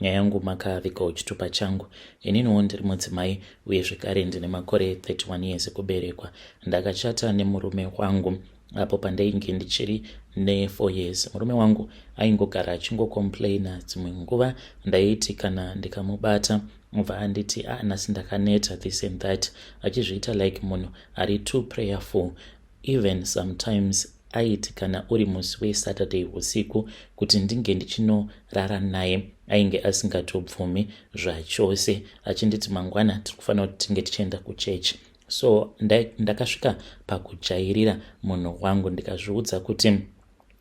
Nyaya yangu makavika uchitupa changu. Ininiwo ndiri mudzimai uye zvekare ndine makore 31 years ekuberekwa. Ndakachata nemurume wangu apo pandainge ndichiri ne4 years. Murume wangu aingogara achingokomplaina dzimwe nguva ndaiti kana ndikamubata mubva anditi a ah, nhasi ndakaneta this and that achizviita like munhu ari too prayerful Even sometimes aiti kana uri musi weSaturday husiku kuti ndinge ndichinorara naye ainge asingatobvumi zvachose achinditi mangwana tiri kufanira kuti tinge tichienda kuchechi so ndakasvika pakujairira munhu wangu ndikazviudza kuti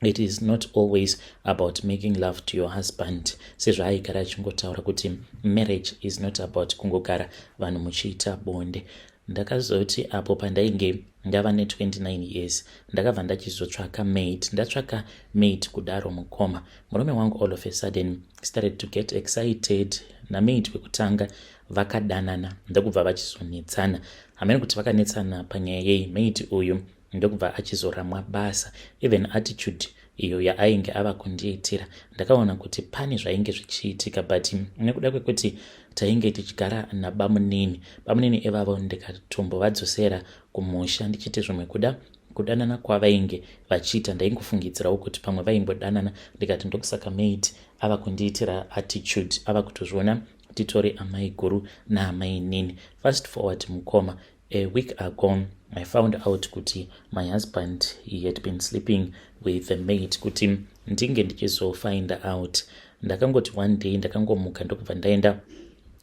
it is not always about making love to your husband sezvaaigara achingotaura kuti marriage is not about kungogara vanhu muchiita bonde ndakazoti apo pandainge ndava ne29 years ndakabva ndachizotsvaka maid ndatsvaka maid kudaro mukoma murume wangu all of a sudden started to get excited namaid wekutanga vakadanana ndokubva vachizonetsana hamene kuti vakanetsana panyaya yei maid uyu ndokubva achizoramwa basa even attitude iyo yaainge ava kundiitira ndakaona kuti pane zvainge zvichiitika but nekuda kwekuti tainge tichigara nabamunini bamunini ivavo ndikatombovadzosera kumusha ndichiti zvimwe kuda kudanana kwavainge vachiita ndaingofungidzirawo kuti pamwe vaingodanana ndikati ndokusaka maid ava kundiitira attitude ava kutozviona titori amai guru naamai nini fast forward mukoma A week ago, I found out kuti my husband he had been sleeping with a maid kuti ndinge ndichizofind out. Ndakangoti one day ndakangomuka ndokubva ndaenda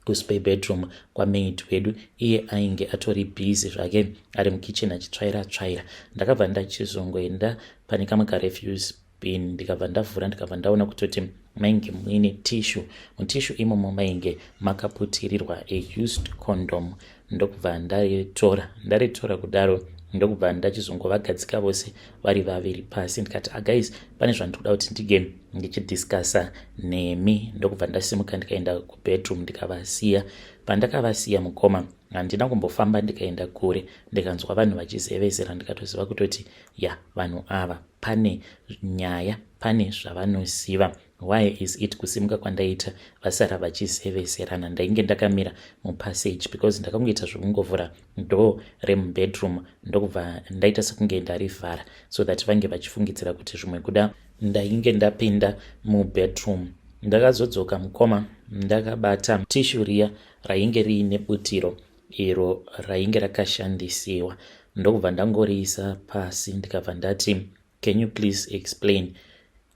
kuspay bedroom kwamaid wedu iye ainge atori busy zvake ari mukitchen achitsvaira tsvaira. Ndakabva ndachizongoenda pane kamwe karefuse bin ndikabva ndavhura ndikabva ndaona kutoti mainge muine tishu mutishu imomo mainge makaputirirwa a used condom ndokubva ndaritora ndaritora kudaro ndokubva ndachizongovagadzika vose vari vaviri pasi ndikati aguys ah, pane zvandikuda kuti ndige ndichidiscussa nemi ndokubva ndasimuka ndikaenda kubedroom ndikavasiya pandakavasiya mukoma handina kumbofamba ndikaenda kure ndikanzwa vanhu vachizevezera ndikatoziva kutoti ya vanhu ava pane nyaya pane zvavanoziva why is it kusimuka kwandaita vasara vachizeveserana ndainge ndakamira mupassage because ndakangoita zvekungovhura door remubedroom ndokubva ndaita sekunge ndarivhara so that vange vachifungidzira kuti zvimwe kuda ndainge ndapinda mubedroom ndakazodzoka mukoma ndakabata tishu riya rainge riine butiro iro rainge rakashandisiwa ndokubva ndangoriisa pasi ndikabva ndati can you please explain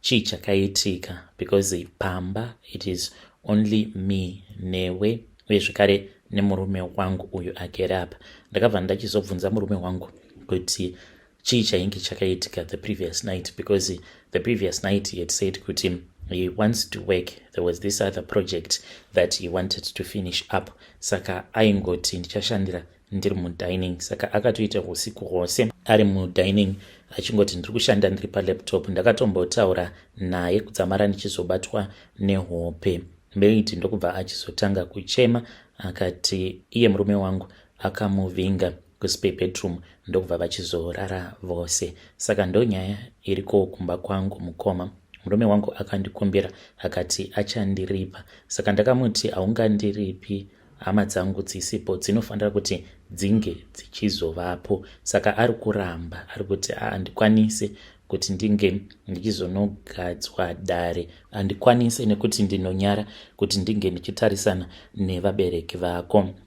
chii chakaitika because pamba it is only me newe uye zvekare nemurume wangu uyu agere apa ndakabva ndachizobvunza murume wangu kuti chii chainge chakaitika the previous night because the previous night he had said kuti he wants to work there was this other project that he wanted to finish up saka aingoti ndichashandira ndiri mudining saka akatoita usiku hwose ari mudining achingoti ndiri kushanda ndiri palaptop ndakatombotaura naye kudzamara ndichizobatwa nehope maid ndokubva achizotanga kuchema akati iye murume wangu akamuvinga kuspare bedroom ndokubva vachizorara vose saka ndonyaya iriko kumba kwangu mukoma murume wangu akandikumbira akati achandiripa saka ndakamuti haungandiripi hama dzangu dzisipo dzinofanira kuti dzinge dzichizovapo saka ari kuramba ari kuti handikwanise kuti ndinge ndichizonogadzwa dare handikwanise nekuti ndinonyara kuti ndinge ndichitarisana nevabereki vako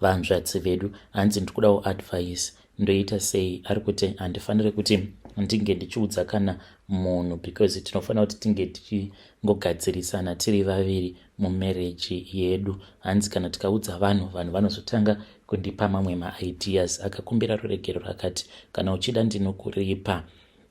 vanzvadzi vedu hanzi ndikudawo advice ndoita sei ari kuti handifanire kuti ndinge ndichiudza kana munhu because tinofanira kuti tinge tichingogadzirisana tiri vaviri mumereji yedu hanzi kana tikaudza vanhu vanhu vanozotanga kundipa mamwe maideas akakumbira ruregerero akati kana uchida ndinokuripa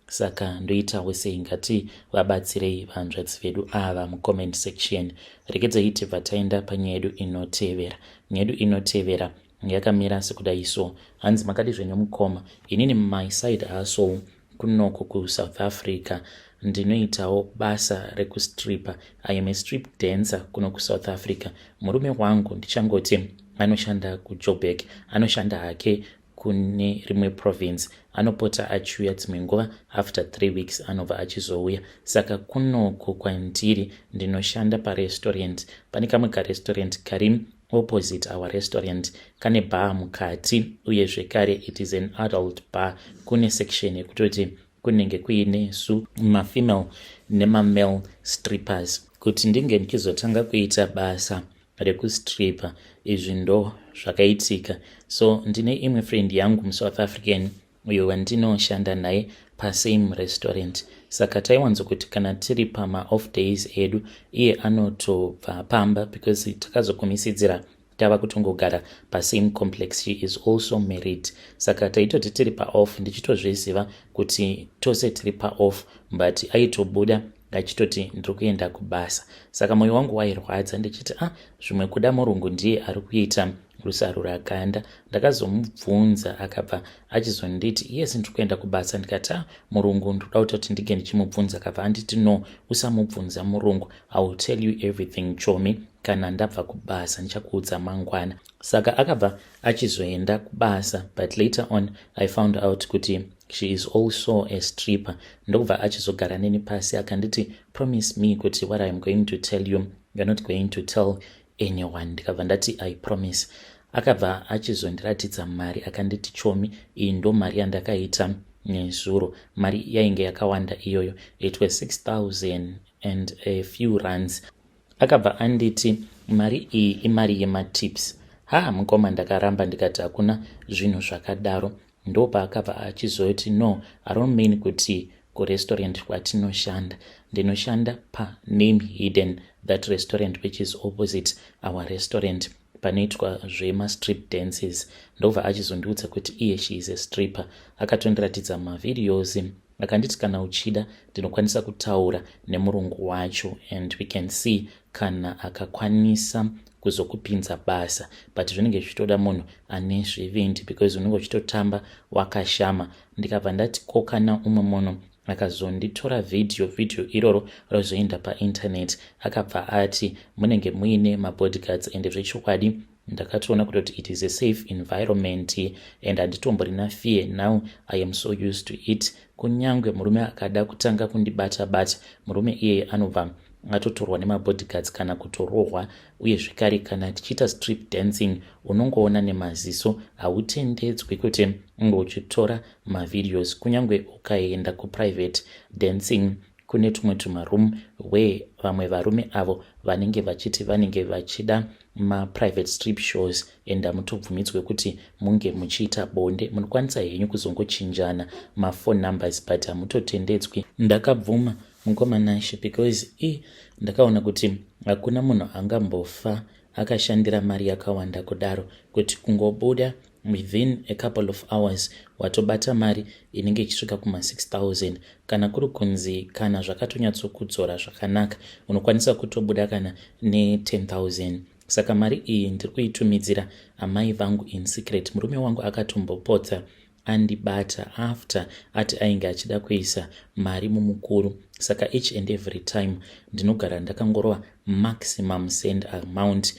Saka ndoitawo sei ngati vabatsirei vahanzvadzi vedu ava mucomment section. Rekedzai tibva taenda panyaya yedu inotevera. Nyaya yedu inotevera yakamira sekudai so. Hanzi makadi zvenyu mukoma. Inini my side hustle kunoko kusouth africa ndinoitawo basa rekustripa i am a strip dancer kuno kusouth africa murume wangu ndichangoti anoshanda kujoburg anoshanda hake kune rimwe province anopota achiuya dzimwe nguva after three weeks anobva achizouya saka kunoko kwandiri ndinoshanda parestaurant pane kamwe karestaurant kari opposite our restaurant kane bar mukati uye zvekare it is an adult bar kune section yekutoti kunenge kuine su mafemale nemamale strippers kuti ndinge ndichizotanga kuita basa rekustripper izvi ndo zvakaitika so ndine imwe friend yangu musouth african uyo wandinoshanda naye pasame restaurant saka taiwanzokuti kana tiri pamaoff days edu iye anotobva pamba because takazokumisidzira tava kutongogara pasame complex she is also married saka taitoti tiri paoff ndichitozviziva kuti tose tiri paoff but aitobuda achitoti ndiri kuenda kubasa saka mwoyo wangu wairwadza ndichiti a ah, zvimwe kuda murungu ndiye ari kuita rusarura ganda ndakazomubvunza akabva achizonditi yes ndiri kuenda kubasa ndikati a ah, murungu ndikuda kutoti ndinge ndichimubvunza akabva anditi no usamubvunza murungu I will tell you everything chomi kana ndabva kubasa ndichakuudza mangwana saka akabva achizoenda kubasa but later on i found out kuti she is also a stripper ndokubva achizogara neni pasi akanditi promise me kuti what iam going to tell you you're not going to tell anyone ndikabva ndati i promise akabva achizondiratidza mari akanditi chomi iyi ndo mari yandakaita nezuro mari yainge yakawanda iyoyo it was 6000 and a few runs akabva anditi mari iyi imari yematips haa mukoma ndakaramba ndikati hakuna zvinhu zvakadaro ndopaakabva achizoti no i don't mean kuti kurestaurant kwatinoshanda ndinoshanda paname hidden that restaurant which is opposite our restaurant panoitwa zvemastrip dances ndobva achizondiudza kuti iye she is a stripper akatondiratidza mavideos Vakanditi kana uchida ndinokwanisa kutaura nemurungu wacho and we can see kana akakwanisa kuzokupinza basa but zvinenge zvichitoda munhu ane zvivindi because unenge uchitotamba wakashama ndikabva ndati ko kana umwe munhu akazonditora vhidhiyo vhidhiyo iroro rozoenda paintaneti akabva ati munenge muine mabodyguards ende zvechokwadi ndakatoona kutoti it is a safe environment and handitomborina fear now i am so used to it kunyange murume akada kutanga kundibata bata murume iyeye anobva atotorwa nemabodyguards kana kutorohwa uye zvekare kana tichiita strip dancing unongoona nemaziso hautendedzwi kuti unge uchitora mavideos kunyange ukaenda kuprivate dancing kune tumwe tumaroom where vamwe varume avo vanenge vachiti vanenge vachida ma private strip shows and hamutobvumidzwe kuti munge muchiita bonde munokwanisa henyu kuzongochinjana maphone numbers but hamutotendedzwi ndakabvuma mukoma nashe because i ndakaona kuti hakuna munhu angambofa akashandira mari yakawanda kudaro kuti kungobuda Within a couple of hours watobata mari inenge ichisvika kuma 6000 kana kuri kunzi kana zvakatonyatsokudzora zvakanaka unokwanisa kutobuda kana ne 10000 saka mari iyi ndiri kuitumidzira amai vangu in secret murume wangu akatombopotsa andibata after ati ainge achida kuisa mari mumukuru saka each and every time ndinogara ndakangorova maximum send amount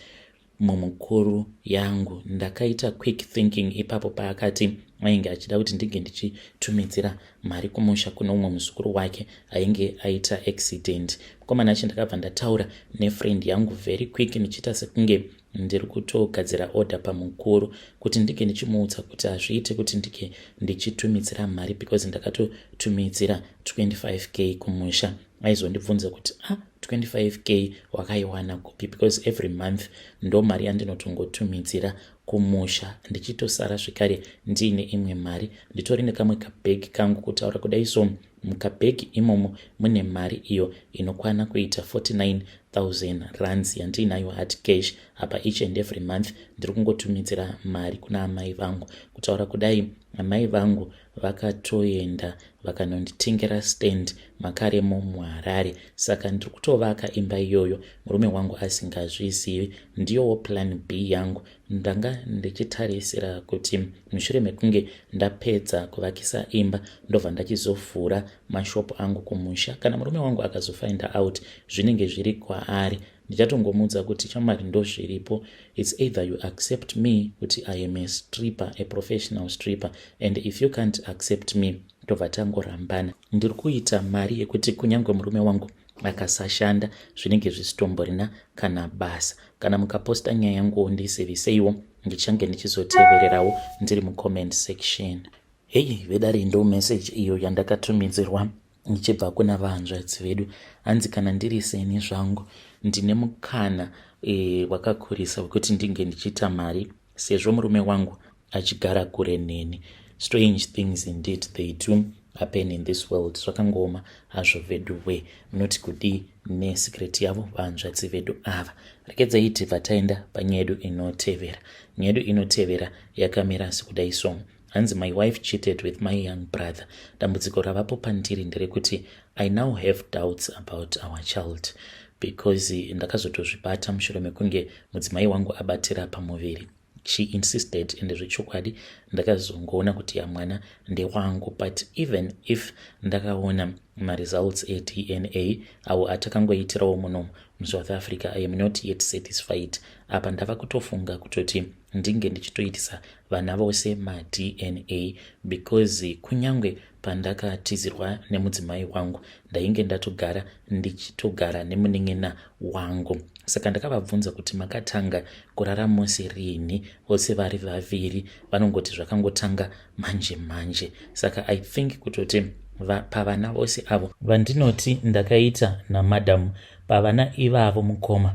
mumukuru yangu ndakaita quick thinking ipapo paakati ainge achida kuti ndinge ndichitumidzira mari kumusha kune umwe muzukuru wake ainge aita accident mukomana achi ndakabva ndataura nefriend yangu very quick ndichiita sekunge ndiri kutogadzira order pamukuru kuti ndinge ndichimuudza kuti hazviite kuti ndinge ndichitumidzira mari because ndakatotumidzira 25 k kumusha aizondibvunza kuti a ah, 25k wakaiwana kupi because every month ndo mari yandinotongotumidzira kumusha ndichitosara zvekare ndiine imwe mari nditori nekamwe kabhegi kangu kutaura kudai so mukabhegi imomo mune mari iyo inokwana kuita 49000 rands yandiinayo hard cash apa each and every month ndiri kungotumidzira mari kuna amai vangu kutaura kudai amai vangu vakatoenda vakanonditengera stand makare mo muharare saka ndiri kutovaka imba iyoyo murume wangu asingazvizivi ndiyowo plan b yangu ndanga ndichitarisira kuti mushure mekunge ndapedza kuvakisa imba ndobva ndachizovhura mashopu angu kumusha kana murume wangu akazofinda out zvinenge zviri kwaari ndichatongomuudza kuti chamari ndozviripo its either you accept me kuti i am a stripper a professional stripper and if you can't accept me tobva tangorambana ndiri kuita mari yekuti kunyange murume wangu akasashanda zvinenge zvisitomborina kana basa kana mukaposta nyaya yanguwo ndiiseviseiwo ndichange ndichizotevererawo ndiri mucomment section heyi vedare ndo message iyo yandakatumidzirwa ndichibva kuna vahanzvadzi vedu hanzi kana ndiri seni zvangu ndine mukana e, wakakurisa wekuti ndinge ndichiita mari sezvo murume wangu achigara kure neni strange things indeed they do happen in this world zvakangooma hazvo vedu we munoti kudii nesecret yavo vahanzvadzi vedu ava rekedzai tibva taenda panyaya yedu inotevera nyaya yedu inotevera yakamira sekudai so hanzi my wife cheated with my young brother dambudziko ravapo pandiri nderekuti i now have doubts about our child because ndakazotozvibata mushure mekunge mudzimai wangu abatira pamuviri she insisted ende zvechokwadi ndakazongoona kuti ya mwana ndewangu but even if ndakaona maresults edna awo atakangoitirawo muno musouth africa i am not yet satisfied apa ndava kutofunga kutoti ndinge ndichitoitisa vana vose madna because kunyange pandakatizirwa nemudzimai wangu ndainge ndatogara ndichitogara nemunin'ina wangu saka ndakavabvunza kuti makatanga kurara mose rini vose vari vaviri vanongoti zvakangotanga manje manje saka i think kutoti pavana vose avo vandinoti ndakaita namadam pavana ivavo mukoma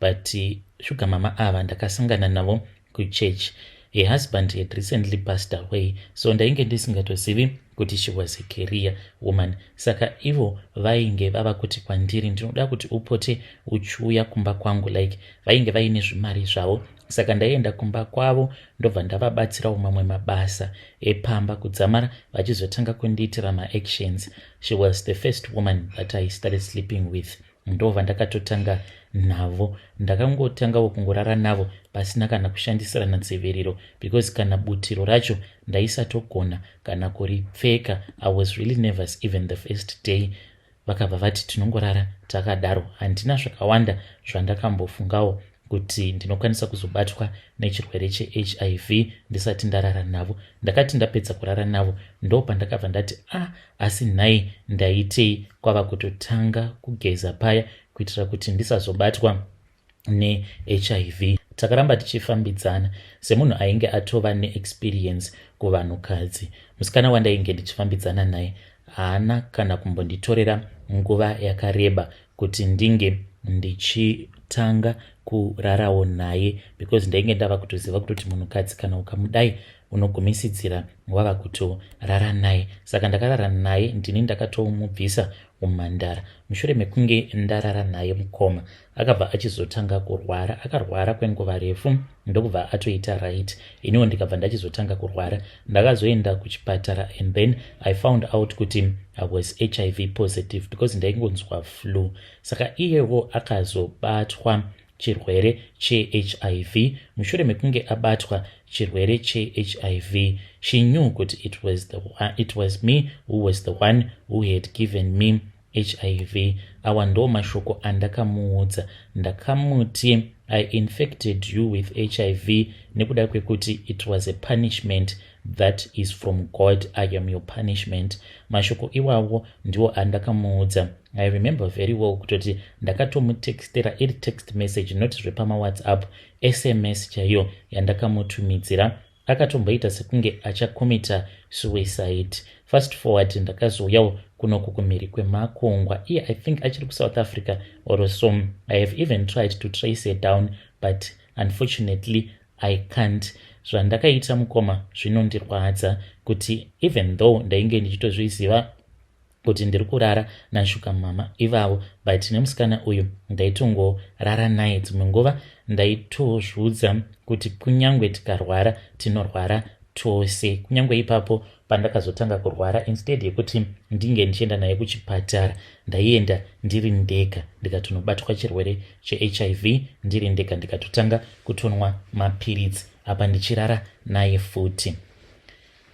But sugar mama ava ndakasangana navo kuchurch. Her husband had recently passed away so ndainge ndisingatozivi kuti she was a career woman saka ivo vainge vava kuti kwandiri ndinoda kuti upote uchiuya kumba kwangu like vainge vaine zvimari zvavo saka ndaienda kumba kwavo ndobva ndavabatsirawo mamwe mabasa epamba kudzamara vachizotanga kundiitira maactions she was the first woman that i started sleeping with ndova ndakatotanga navo ndakangotangawo kungorara navo pasina kana kushandisirana dziviriro because kana butiro racho ndaisatogona kana kuripfeka i was really nervous even the first day vakabva vati tinongorara takadaro handina zvakawanda zvandakambofungawo kuti ndinokwanisa kuzobatwa nechirwere chehiv ndisati ndarara navo ndakati ndapedza kurara navo ndopandakabva ndati a ah, Asi nhai ndaitei kwava kutotanga kugeza paya kuitira kuti ndisazobatwa neHIV. Takaramba tichifambidzana semunhu ainge atova neexperience kuvanhukadzi. Musikana wandainge ndichifambidzana naye haana kana kumbonditorera nguva yakareba kuti ndinge ndichitanga kurarawo naye because ndainge ndava kutoziva kutoti munhukadzi kana ukamudai unogumisidzira wava kutorara naye saka ndakarara naye ndini ndakatomubvisa umhandara mushure mekunge ndarara naye mukoma akabva achizotanga kurwara akarwara kwenguva refu ndokubva atoita right iniwo ndikabva ndachizotanga kurwara ndakazoenda kuchipatara and then i found out kuti i was hiv positive because ndaingonzwa flu saka iyewo akazobatwa chirwere cheHIV mushure mekunge abatwa chirwere cheHIV. She knew kuti it was, the, uh, it was me who was the one who had given me HIV. Awa ndo mashoko andakamuudza. Ndakamuti I infected you with HIV nekuda kwekuti it was a punishment That is from God, I am your punishment. Mashoko iwawo ndiwo andakamuudza. I remember very well kutoti ndakatomutextera iri text message not zvepamawhatsapp, sms chaiyo yandakamutumidzira akatomboita sekunge achakomita suicide fast forward ndakazouyawo kunoku kumhiri kwemakungwa iye i think achiri kusouth africa or so i have even tried to trace her down but unfortunately I can't zvandakaita mukoma zvinondirwadza kuti even though ndainge ndichitozviziva kuti ndiri kurara nashuka mama ivavo but nemusikana uyu ndaitongorara naye dzimwe nguva ndaitozviudza kuti kunyange tikarwara tinorwara tose kunyange ipapo pandakazotanga kurwara instead yekuti ndinge ndichienda naye kuchipatara ndaienda ndiri ndega ndikatonobatwa chirwere chehiv ndiri ndega ndikatotanga kutonwa mapiritsi apa ndichirara naye futi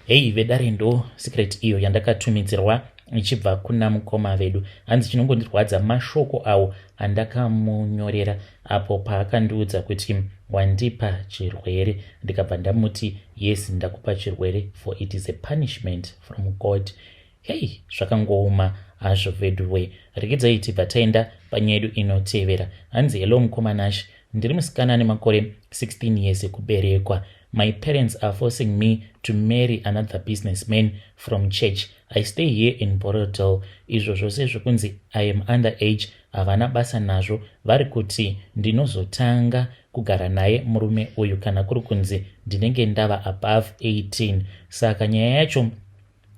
hei vedare ndo secret iyo yandakatumidzirwa ichibva kuna mukoma vedu hanzi chinongondirwadza mashoko awo andakamunyorera apo paakandiudza kuti wandipa chirwere ndikabva ndamuti yes ndakupa chirwere for it is a punishment from god hei zvakangooma hazvo veduwe rekedzayi tibva taenda panyaya yedu inotevera hanzi hello mukomanash ndiri musikana ane makore 16 years ekuberekwa my parents are forcing me to marry another business man from church i stay here in borodel izvo zvose zvekunzi i am under age Havana basa nazvo vari kuti ndinozotanga kugara naye murume uyu kana kuri kunzi ndinenge ndava above 18 saka nyaya yacho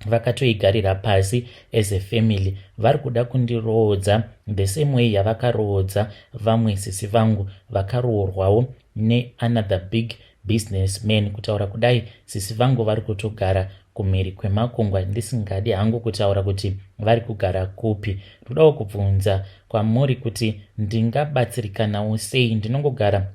vakatoigarira pasi as a family vari kuda kundiroodza the same way yavakaroodza vamwe sisi vangu vakaroorwawo ne another big business man kutaura kudai sisi vangu vari kutogara kumhiri kwemakungwa ndisingadi hangu kutaura kuti vari kugara kupi ndodawo kubvunza kwamuri kuti ndingabatsirikanawo sei ndinongogara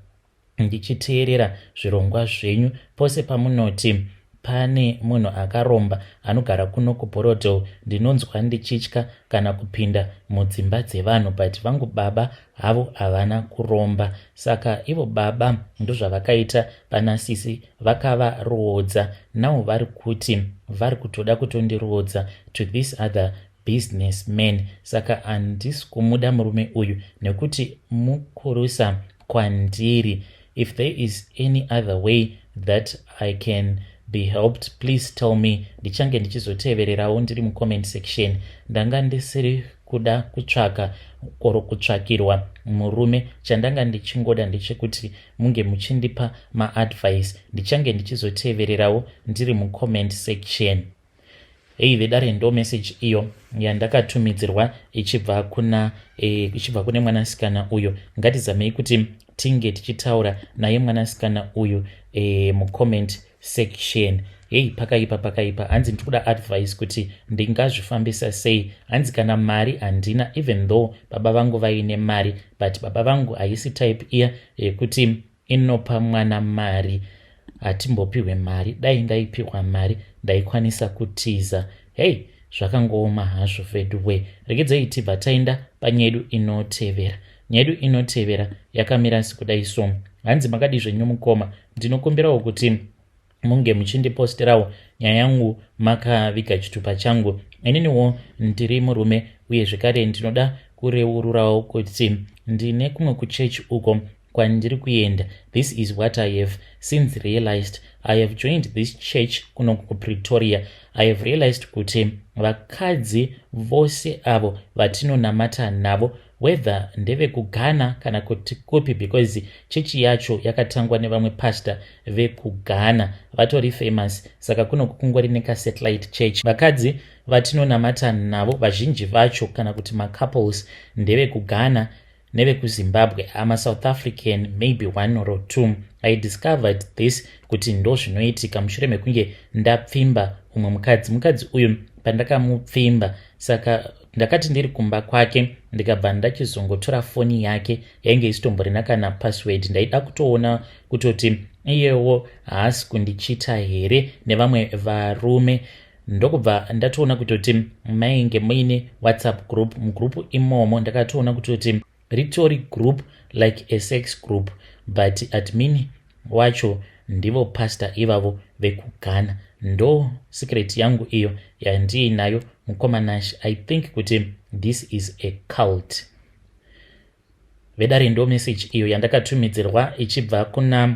ndichiteerera zvirongwa zvenyu pose pamunoti pane munhu akaromba anogara kuno kuborodel ndinonzwa ndichitya kana kupinda mudzimba dzevanhu but vangu baba havo havana kuromba saka ivo baba ndozvavakaita pana sisi vakavaroodza now vari kuti vari kutoda kutondiroodza to this other business man saka handisi kumuda murume uyu nekuti mukurusa kwandiri if there is any other way that i can be helped please tell me ndichange ndichizotevererawo ndiri mucomment section ndanga ndisiri kuda kutsvaga or kutsvakirwa murume chandanga ndichingoda ndechekuti munge muchindipa maadvice ndichange ndichizotevererawo ndiri mucomment section hei vedare ndo message iyo yandakatumidzirwa ichibva kuna e, ichibva kune mwanasikana uyo ngatizamei kuti tinge tichitaura naye mwanasikana uyu e, mucomment section hei pakaipa pakaipa hanzi ndiri kuda advice kuti ndingazvifambisa sei hanzi kana mari handina even though baba vangu vaine mari but baba vangu haisi type iya yekuti inopa mwana mari hatimbopihwe mari dai ndaipihwa mari ndaikwanisa kutiza hei zvakangooma hazvo veduwe regedzai tibva taenda panyedu inotevera nyedu inotevera yakamira sikudai so hanzi makadizvenyu mukoma ndinokumbirawo kuti munge muchindipostirawo nyaya yangu makaviga chitupa changu ininiwo ndiri murume uye zvekare ndinoda kureururawo kuti ndine kumwe kuchechi uko kwandiri kuenda this is what i have since realized i have joined this church kuno kupretoria i have realized kuti vakadzi vose avo vatinonamata navo whether ndevekughana kana kuti kupi because chechi yacho yakatangwa nevamwe pastor vekughana vatori famous saka kunoku kungori nekasatellite church vakadzi vatinonamata navo vazhinji vacho kana kuti macouples ndevekughana nevekuzimbabwe ama south african maybe one or two i discovered this kuti ndo zvinoitika mushure mekunge ndapfimba umwe mukadzi mukadzi uyu pandakamupfimba saka ndakati ndiri kumba kwake ndikabva ndachizongotora foni yake yainge isitomborina kana password ndaida kutoona kutoti iyewo haasi kundichita here nevamwe varume ndokubva ndatoona kutoti mainge muine whatsapp group mugroup imomo ndakatoona kutoti ritori group like a sex group but admin wacho ndivo pastor ivavo vekugana ndo secret yangu iyo yandiinayo mukoma nash i think kuti this is a cult vedare ndo message iyo yandakatumidzirwa ichibva kuna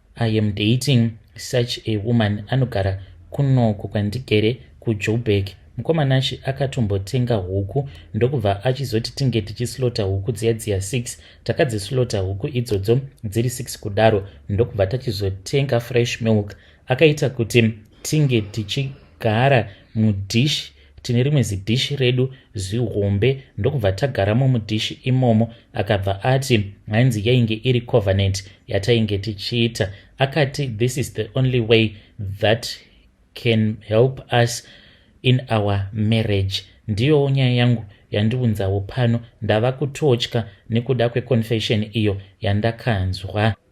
I am dating such a woman anogara kunoko kwandigere kuJoburg. Mukoma Nashy akatombotenga huku ndokubva achizoti tinge tichislota huku dziya dziya 6 takadzislota huku idzodzo dziri 6 kudaro ndokubva tachizotenga fresh milk akaita kuti tinge tichigara mudish tine rimwe zidhishi redu zihombe ndokubva tagaramo mudhishi imomo akabva ati ainzi yainge iri covenant yatainge tichiita akati this is the only way that can help us in our marriage ndiyowo nyaya yangu yandiunzawo pano ndava kutotya nekuda kweconfession iyo yandakanzwa